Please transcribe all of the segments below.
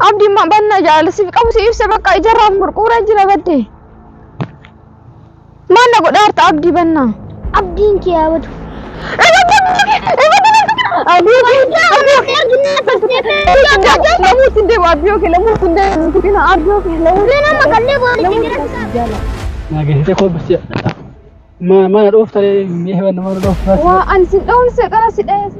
Abdi ma banna jaala siif qabu si ibsa bakka ijarraaf murquura jira badde. Maal na godha harta abdi banna. Abdiin kee haa badu. Lamuutti hin deemu abdii yookiin lamuutti hin deemu nuti kina abdii yookiin lamuutti. Nama makallee booda jira. Nageessite koo bisi. Mana dhoofta mee hewan nama dhoofta. Waa ani si dhawun seeqara si dhayeessa.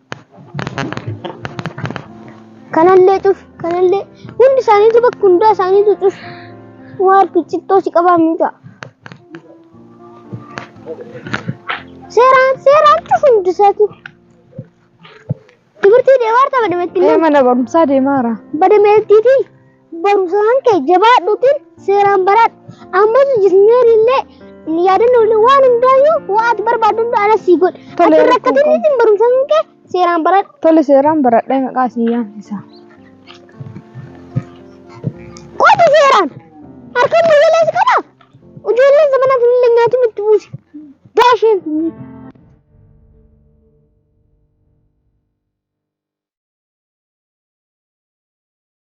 Kanallee cuf kanallee hundi isaaniitu bakka hundaa isaaniitu cuf waan cittoo si qabaa miidha. Seeraan seeraan cuf hundi isaatu. Timirtii deemaa arta badametti Ee mana barumsaa deemaara. badameettiitii. barumsaan kee jabaadhuutiin seeraan baraadhu. Ammas jisneeri illee yaadannoo illee waan hundaayyuu waan ati barbaaddu hunda anas sii godhe. Tole, Ati hin rakkatin rakkoon isin barumsaan kee seeraan baraadhu. Tole seeraan baradhee maqaa sii yaamsisa. Qoota seeraan harkaan ijoollee si qaba. Ijoolleen zamanaa sun illee nyaatiin itti buusi. Daasheen sun.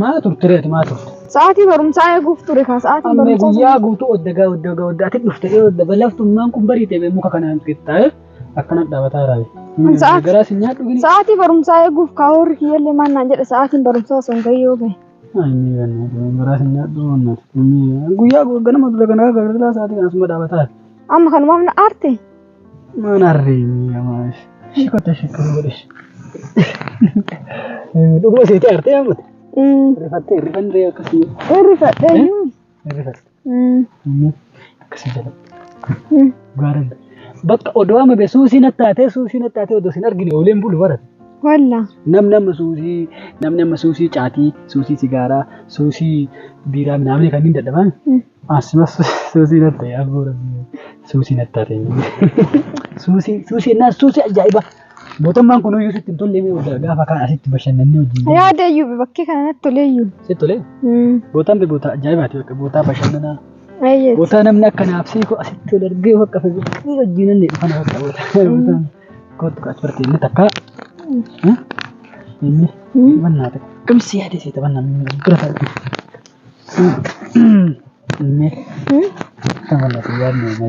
Maal turte reeti maal turte? Sa'aatii barumsaa eeguuf ture kaa sa'aatii Amma barumsaa. guyyaa guutuu oddagaa oddagaa oddaa ati dhufte dhee odda balaftummaan kun bariite bee muka kanaan qixxaa'e akkana dhabataa raabe. Kun sa'aati- Garaa si nyaadhu gini. Sa'aatii barumsaa eeguuf kaa horri kiyyallee maal naan jedhe sa'aatiin barumsaa osoo hin gayyoo gahe. Inni ganna garaa si nyaadhu mannati. Guyyaa ganama dura ganaa gargaraa sa'aatii kana asuma dhaabataa. Amma kanumaaf na aarte. Mana reemi amaaf. Shikota shikota godhe. Dhuguma seetee artee hammate. Rifattee rifannee akkasii. Irrifadhe iyyuu. Rifatte. Akkasii jala. Gaara. Bakka odoo amma bee suusii nattaatee suusii nattaatee odoo sin argine ooleen bulu barate. Walla. Namni amma suusii namni amma suusii caatii suusii sigaaraa suusii biiraa minaamni kanneen dadhabaan. Asuma suusii natti ta'e abboo rabbi suusii natti taate. Suusii suusii ennaa suusii ajaa'iba. Mootummaan kun iyyuu sitti hin tolle mee waggaa gaafa kaan asitti bashannannee wajjin. Yaada iyyuu bakkee kana natti tolee iyyuu. Sitti tolee? Bootaan bee bootaa ajaa'ibaati bakka bootaa bashannanaa. Eeyyee. Bootaa namni akka naabsee koo asitti ol argee bakka fayyadaa wajjin inni dhufan bakka bootaa. Bootaan kootu kaas barte inni takka. Inni bannaa takka. Kamsi yaadee seeta bannaa bira taa'e.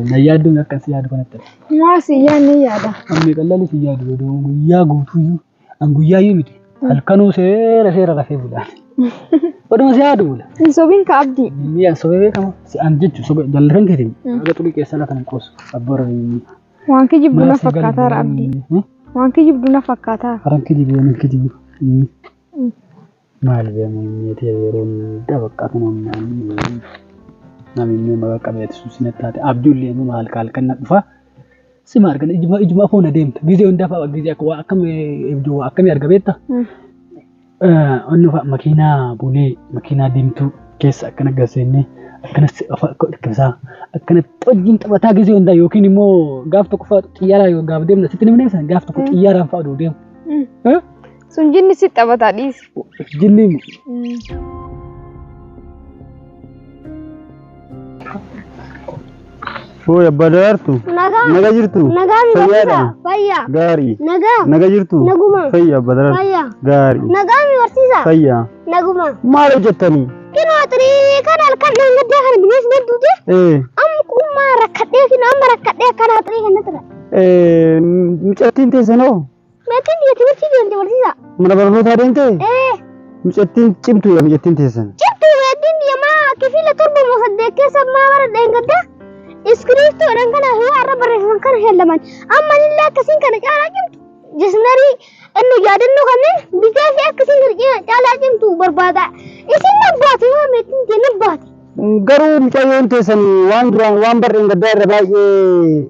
Na yaaddu akkan si yaadu kanatti. Maa si yaadni yaada. Ammi qal'aan si yaadu godhuu guyyaa guutuu an guyyaa yoo miti halkanuu seera seera rafee bula. Oduma si yaadu bula. Hin sobiin ka abdii. Inni an sobee beekama si an jechu sobe jallan keetiin. Aga xulii keessa lafa hin qoosu abboora inni. Waan kijibdu na fakkaataara abdii. Waan kijibdu na fakkaataa. Haran kijibu waan kijibu. Maal bee muhimmee tee yeroo hunda bakka kunuun naannoo namimmee maqaa qabeeti sun sin attaate abdii ullee immoo halka halkan na dhufa sima argan ijuma ijuma foona deemta gizee hunda fa'a gizee akka waa akkam ibdu waa akkamii arga beekta onni fa'a makiinaa bulee makiinaa diimtuu keessa akkana gaseennee akkana si afa akka dhikkisaa akkana xojjiin taphataa gizee hundaa yookiin immoo gaaf tokko fa'a xiyyaaraa yoo gaaf deemna sitti nimneessa gaaf tokko xiyyaaraan fa'a duu deemu. Sun jinni si taphataa dhiisi. Jinni mu. Hooy abbaa daraartu. Nagaa. Naga jirtu. Nagaa mi Fayyaadha. barsiisaa? Fayyaa. Gaarii. Nagaa. Naga jirtu. Naguma. Fayya abbaa daraartu. Fayyaa. Gaarii. Nagaa mi barsiisaa? Fayya. Naguma. Maal hojjettanii? Kinoo xirii kan halkan dhaan gaddaa kana bineensi hedduuti. Ee. Amma kuummaa rakkadhee kinoo amma rakkadhee akkanaa xirii kan natti dha. Ee. Mucattiin teessanoo. Meexxiin biyya timirtii deemte barsiisaa. Mana barnootaa deemte? Ee, Mucattiin cimtuudha mucattiin teessan. cimtu meexxiin biyya maa kifiila torba moo saddeet keessa maa bara dheengadda. Iskiriiptoodhaan kana yoo har'a barreeffaman kana heellaman. Amma illee akkasiin kana caalaa cimtu. Jisnarii inni yaadannoo kanneen bitee fi akkasiin kana cina- caalaa cimtu barbaada. Isin nan baate yoo meexxiin tee nan baate. Garuu mucayyoon teessan waan duraan waan barreen gaddaa irra baay'ee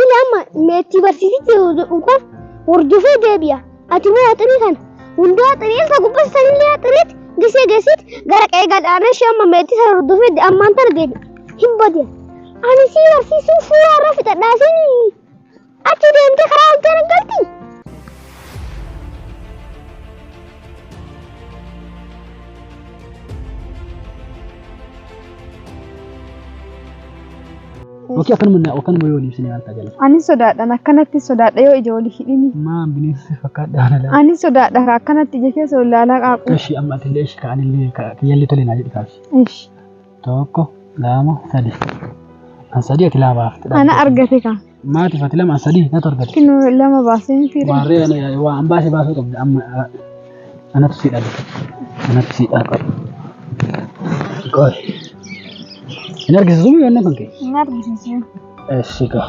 Inni amma meexxii barsiisitti yeroo jedhu kan hordofee deebi'a. Ati immoo haxiree kana hundaa haxiree isa gubbaa sanillee haxireetti gisee geessitti gara qe'ee gadaanaa ishee amma meexxii sana hordofee de- ammaan tana deebi'a. Hin bade. Ani sii barsiisuun suuraa irra fixadhaa siin achi deemtee karaa oltee hin galti. Oke akkanuma na akkanuma yoo ibsine maal ta'a jala. Ani sodaadhaan akkanatti sodaadha yoo ija wali hidhini. Maa bineensa fakkaadha haala. Ani sodaadha kaa akkanatti ija keessa wal ilaalaa qaaqu. Eshi amma atillee eshi kaanillee kiyyallee tole naa jedhi kaasi. Ish. Tokko lama sadi. An sadi ati lama baafte. Ana argate kaa. Maatiif ati lama an sadi natu argate. Kinu lama baasee miti. Waarree waan baase baasuu qabda amma Anatu si dhabe. Anatu si dhabe. Qoy. Hin argisiisu mii wanna kan kee? Hin argisiisin. Eessi gaa.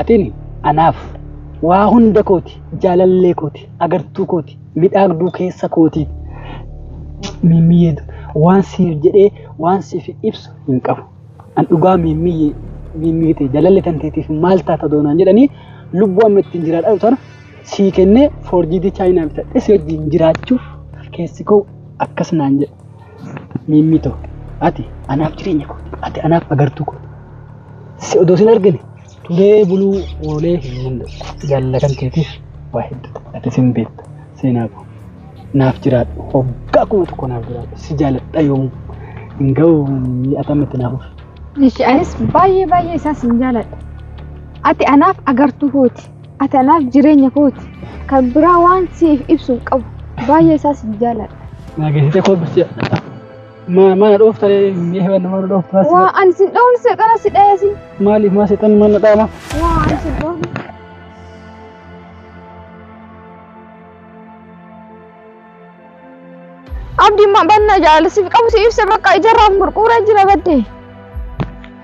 Atin anaaf waa hunda kooti, jaalallee kooti, agartuu kooti, midhaagduu keessa kooti. Miimmiyyee waan siif jedhee waan siif ibsu hin qabu. An dhugaa miimmiyyee miimmii ta'e jaalallee tanteetiif maal taata doonaan jedhanii lubbuu amma ittiin jiraadhaa tana sii kennee foorjiitii chaayinaa bitadhe si wajjin jiraachuuf keessi koo akkas naan jedhe. Miimmii ta'u ati anaaf jireenya kooti, ati anaaf agartuu kooti. Si odoo sin argine turee buluu oolee hin danda'u. Jaallatam keetiif waa hedduu ati sin beekta seenaa koo. Naaf jiraadhu hoggaa kuma tokko naaf jiraadhu si jaaladha yoomuu hin ga'u atammatti naaf ufi. Ishi anis baay'ee baay'ee isaa sin jaaladha. Ati anaaf agartuu kooti. Ati anaaf jireenya kooti. Kan biraa waan siif ibsu hin qabu. Baay'ee isaa sin jaaladha. Naa geessite koo bisee. Ma- Mana dhoofta mee wanna mana dhoofta as Waa ani sin dhawun seexana si dhayesin. maaliif maa seexanni mana dhaama Waa ani sin dhawun. Abdi ma banna jaalisiif qabu si ibsa bakka ijarraa murquura jira badde.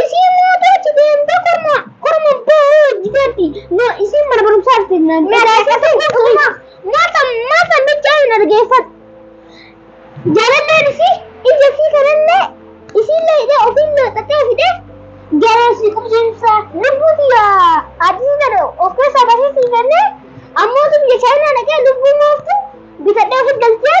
Isiin mootu achi deemtee korma korma abbaa hoo hojjiteetti. No isiin mana barumsaa dhufte naan dhagaasisan dhuguma. Maata maata miccaa hin argeeffatu. Jaalalleen isii ija isii kanallee isiillee hidhee ofiillee xaxee fidee garee isii qubsiisa. Lubbuu tiyya addisii tana of keessaa basee sii kennee ammootu biyya chaayinaa dhaqee lubbuu mooftu bitadhee ofi galchee